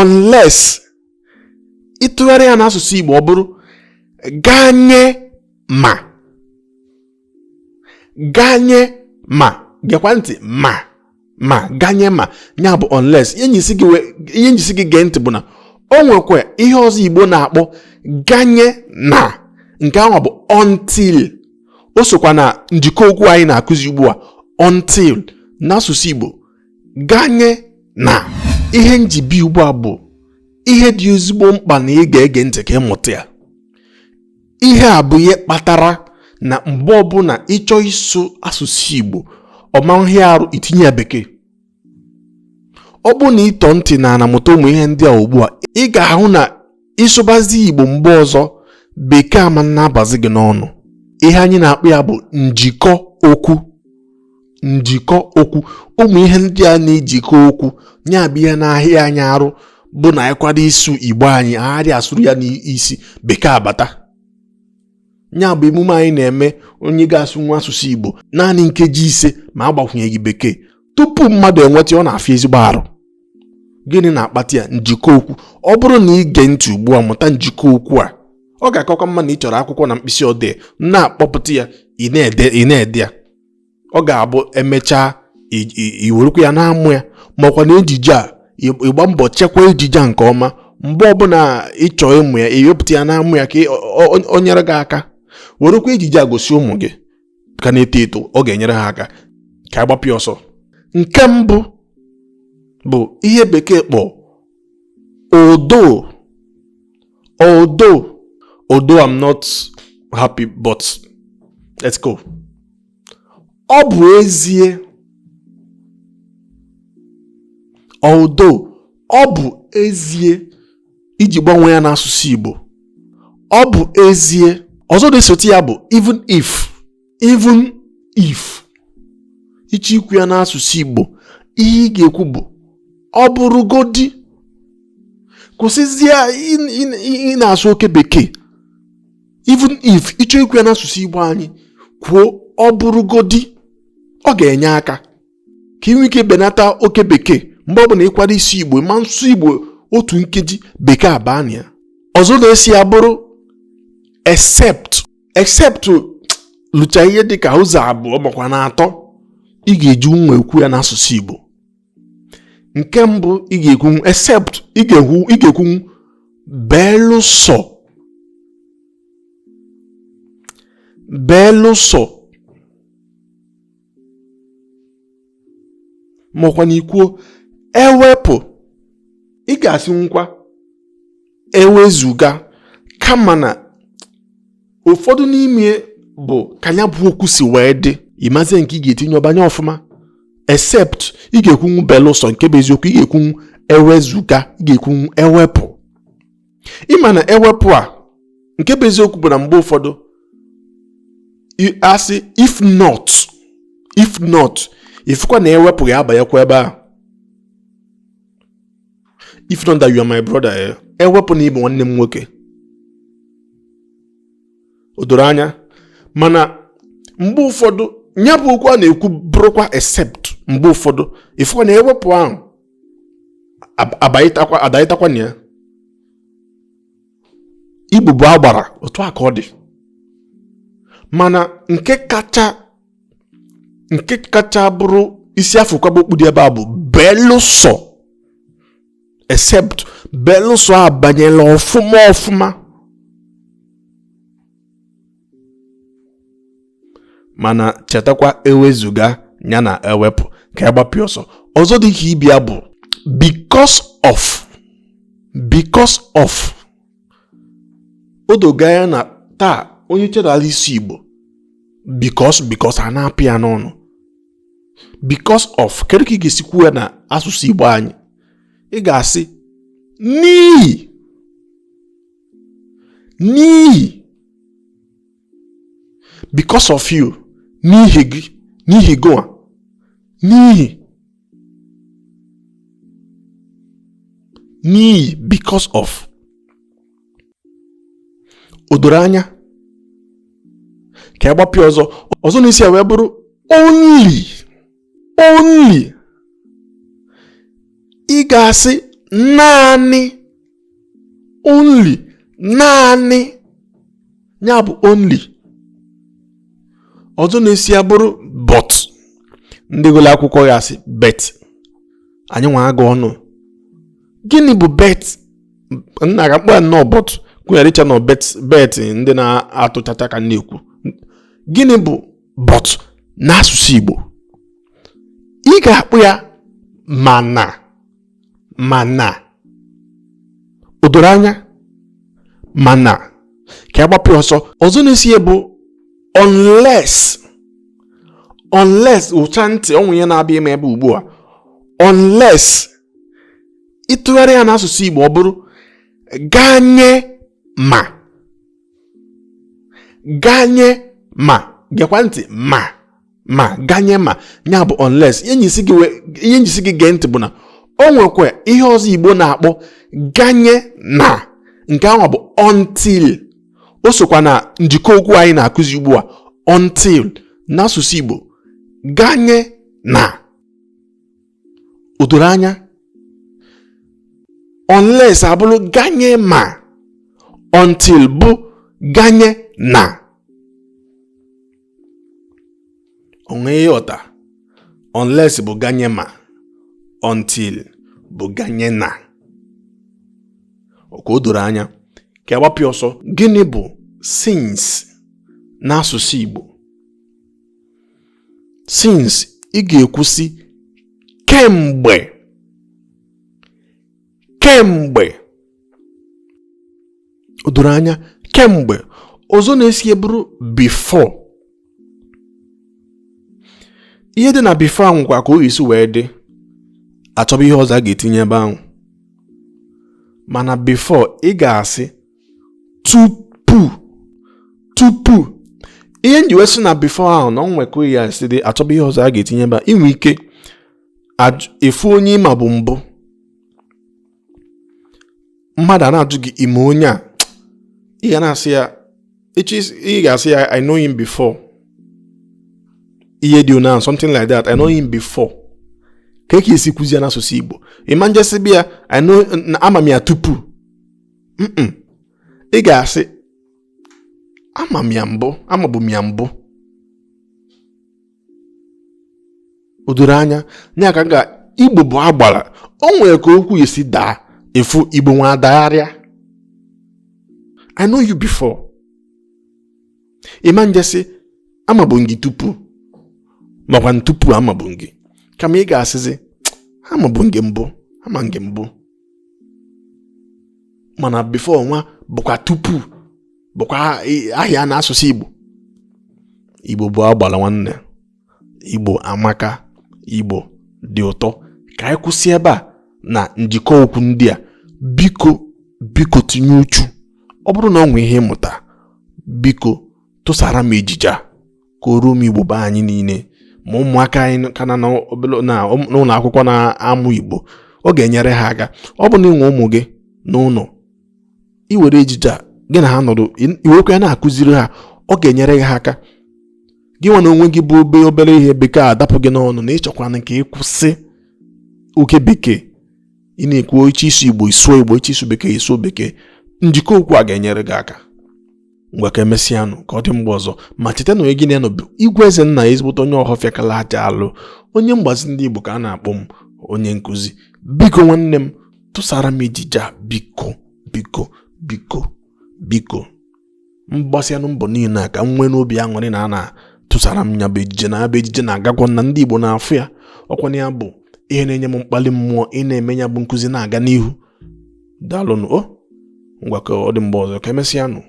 unless ị tụgharịa ya n'asụsụ Igbo ọ bụrụ ganye ma ganye ma gekwa ntị ma ma ganye ma ya bụ unless ihe m ji sị gị gee ntị bụ na o nwekwa ihe ọzọ Igbo na-akpọ ganye na nke ahụ bụ until o sokwa na njikọ okwu anyị na-akụzi ugbu a until n'asụsụ Igbo ganye na ihe m ji bịa ugbu a bụ ihe dị ezigbo mkpa na ị ga-ege ntị ka ị mụta ya ihe a bụ ihe kpatara na mgbe ọbụla ị chọọ ịsụ asụsụ Igbo ọ ma hịa arụ i tinye ya bekee ọ bụrụ na ị tọọ ntị n'ana mụta ụmụ ihe ndị a ugbu a ị ga-ahụ na ị sụbazi Igbo mgbe ọzọ bekee ama na-abazi gị n'ọnụ ihe anyị na-akpọ ya bụ njikọ okwu njikọ okwu ụmụ ihe ndị a na-ejikọ okwu nya bụ ihe na-ahịa anyị arụ bụ na ị kwado ịsụ Igbo anyị agaghị asụru ya n'isi bekee abata nya bụ emume anyị na-eme onye ga-asụnwu asụsụ Igbo naanị nkeji ise ma agbakwunyeghị bekee tupu mmadụ enweta ọ na-afịa ezigbo arụ gịnị na-akpata ya njikọ okwu ọ bụrụ na i gee ntị ugbu a mụta njikọ okwu a ọ ga-akakwa mma na ị chọrọ akwụkwọ na mkpịsị odee na-akpọpụta ya ị na-ede ya ọ ga-abụ e mechaa i werekwa ya na-amụ ya makwa na ejije a ị gbaa mbọ chekwa ejije a nke ọma mgbe ọbụla ị chọọ ịmụ ya i wepụta ya na-amụ ya ka o nyere gị aka werekwa ejije a gosi ụmụ gị ka na-eto eto ọ ga-enyere ha aka ka a gbapịa ọsọ nke mbụ bụ ihe bekee kpọ although although although I'm not happy but let's go ọ bụ ezie although ọ bụ ezie ị chọọ ịgbanwe ya n'asụsụ Igbo ọ bụ ezie ọzọ na-esote ya bụ even if even if ị chọọ ikwu ya n'asụsụ Igbo ihe ị ga-ekwu bụ ọ bụrụgodi kwụsịzie ịna-asụ oke bekee even if ị chọọ ikwu ya n'asụsụ Igbo anyị kwuo ọ bụrụgodi ọ ga-enye aka ka i nwee ike benata oke bekee mgbe ọ bụla ị kwado ịsụ Igbo ma nsụ Igbo otu nkeji bekee abaa na ya ọzọ na-eso ya bụrụ except except lucha ihe dịka ụzọ abụọ makwa na atọ ị ga-ejinwu ekwu ya n'asụsụ Igbo nke mbụ ị ga-ekwunwu except ị ga-ekwu ị ga-ekwunwu belụsọ belụsọ makwanụ i kwuo ewepụ ị ga-asịnwukwa ewezuga kama na ụfọdụ n'ime bụ ka ya bụ okwu si wee dị ị mazie nke ị ga-etinye ọ banye ọfụma except ị ga-ekwunwu belụsọ nke bụ eziokwu ị ga-ekwunwu ewezuga ị ga-ekwunwu ewepụ ị ma na ewepụ a nke bụ eziokwu bụ na mgbe ụfọdụ a sị if not if not ị fụkwa na ewepụ ga-abanyekwa ebe a if not that you are my brother eh ewepụ na ị bụ nwanne m nwoke o doro anya mana mgbe ụfọdụ ya bụ okwu a na-ekwu bụrụkwa except mgbe ụfọdụ ị fụkwa na ewepụ ahụ adaịtakwa na ya igbo bụ agbara otu a ka ọ dị mana nke kacha nke kacha bụrụ isi a fụ kwaba okpu dị ebe a bụ belụsọ except belụsọ abanyela ọfụma ọfụma mana chetakwa ewezuga ya na ewepụ ka ya gbapịa ọsọ ọzọ dị ka ibe ya bụ because of because of o dogo anya na taa onye chedala ịsụ igbo because because ana-apụ ya n'ọnụ because of kedu ka ị ga-esi kwuo ya na asụsụ igbo anyị ị ga-asị n'ihi n'ihi because of you n'ihi gị n'ihi gụwa n'ihi n'ihi because of o doro anya ka ya gbapịa ọzọ ọzọ na-eso ya wee bụrụ only only ị ga-asị naanị only naanị ya bụ only ọzọ na-eso ya bụrụ but ndị gụrụ akwụkwọ ga-asị bet anyị nwa agụ ọnụ gịnị bụ bet nna ka mkpa nnọọ but gụnyere iche na ọ bet bet ndị na-atụ chacha ka a na-ekwu gịnị bụ but n'asụsụ Igbo ị ga-akpọ ya mana mana o doro anya mana ka a gbapụ ọsọ ọzọ na-eso ya bụ unless unless ụcha ntị o nwe ihe na-abịa ime ebe ugbu a unless ị tụgharịa ya n'asụsụ Igbo ọ bụrụ ganye ma ganye ma gekwa ntị ma ma ganye ma ya bụ unless ihe m ji sị gị gee ntị bụ na o nwekwa ihe ọzọ igbo na-akpọ ganye na nke ahụ bụ until o sokwa na njikọ okwu anyị na-akụzi ugbu a until n'asụsụ igbo ganye na o doro anya unless abụrụ ganye ma until bụ ganye na o nwe ihe ị ghọta unless bụ ganye ma until bụ ganye na okay o doro anya ka a gbapụ ọsọ gịnị bụ since n'asụsụ Igbo since ị ga-ekwu sị kemgbe kemgbe o doro anya kemgbe ọzọ na-eso ya bụrụ before ihe dị na before ahụ kwa ka o si wee dị achọba ihe ọzọ a ga-etinye ebe ahụ mana before ị ga-asị tupu tupu ihe m ji wee sị na before ahụ na o nwe ka ihe si dị achọba ihe ọzọ a ga-etinye ebe a i nwe ike ịfụ onye ị mabu mbụ mmadụ a na-ajụ gị ị ma onye a ị ga na-asị ya ị ga-asị ya I know him before ihe dị na something like that I know him before kee ka ị ya-esi kwuzi ya n'asụsụ Igbo ị ma je sịba ya I know na ama m ya tupu ị ga-asị amabu m ya mbụ o doro anya na ya ka ga igbo bụ agbara o nwere ka okwu si daa ị fụ igbo nwa adagharịa i know you before ị ma je sị amabu m gị tupu makwa tupu amabu m gị kama ị ga-asịzi amabu m gị mbụ ama m gị mbụ mana before nwa bụkwa tupu bụkwa ahịa n'asụsụ Igbo Igbo bụ agbala nwanne Igbo amaka Igbo dị ụtọ ka anyị kwụsị ebe a na njikọ okwu ndị a biko biko tinye uchu ọ bụrụ na o nwee ihe ị mụta biko tụsara m ejije a ka o ruo ụmụ Igbo be anyị niile ma ụmụaka anyị ka nọ n'ụlọ akwụkwọ na-amụ Igbo ọ ga-enyere ha aka ọ bụ na i nwe ụmụ gị n'ụlọ i were ejije a gị na ha nọdụ i wekwa ya na-akụziri ha ọ ga-enyere gị ha aka gịnwa n'onwe gị bụ obe obere ihe bekee adapụ gị n'ọnụ na ị chọkwanụ ka ị kwụsị oke bekee ị na-ekwu ị chọ ịsụ Igbo ị sụọ Igbo ị chọ ịsụ bekee ị sụọ bekee njikọ okwu a ga-enyere gị aka ngwa ka emesịanụ ka ọ dị mgbe ọzọ ma cheta na onye gị na ya nọ bụ Igwe Ezennaya ezigbote onye Ọhọfịa kala aja alụ onye mgbazi ndị Igbo ka a na-akpọ m onye nkụzi biko nwanne m tụsara m ejije a biko biko biko biko mgbasianụ mbọ niile a ka m nwee n'obi aṅụrị na a na-atụsara m nya bụ ejije na ya bụ ejije na-agakwa na ndị Igbo na-afụ ya ọ kwa nya bụ ihe na-enye m mkpali mmụọ ị na-eme ya bụ nkụzi na-aga n'ihu daalụnụ o ngwa ka ọ dị mgbe ọzọ ka emesịanụ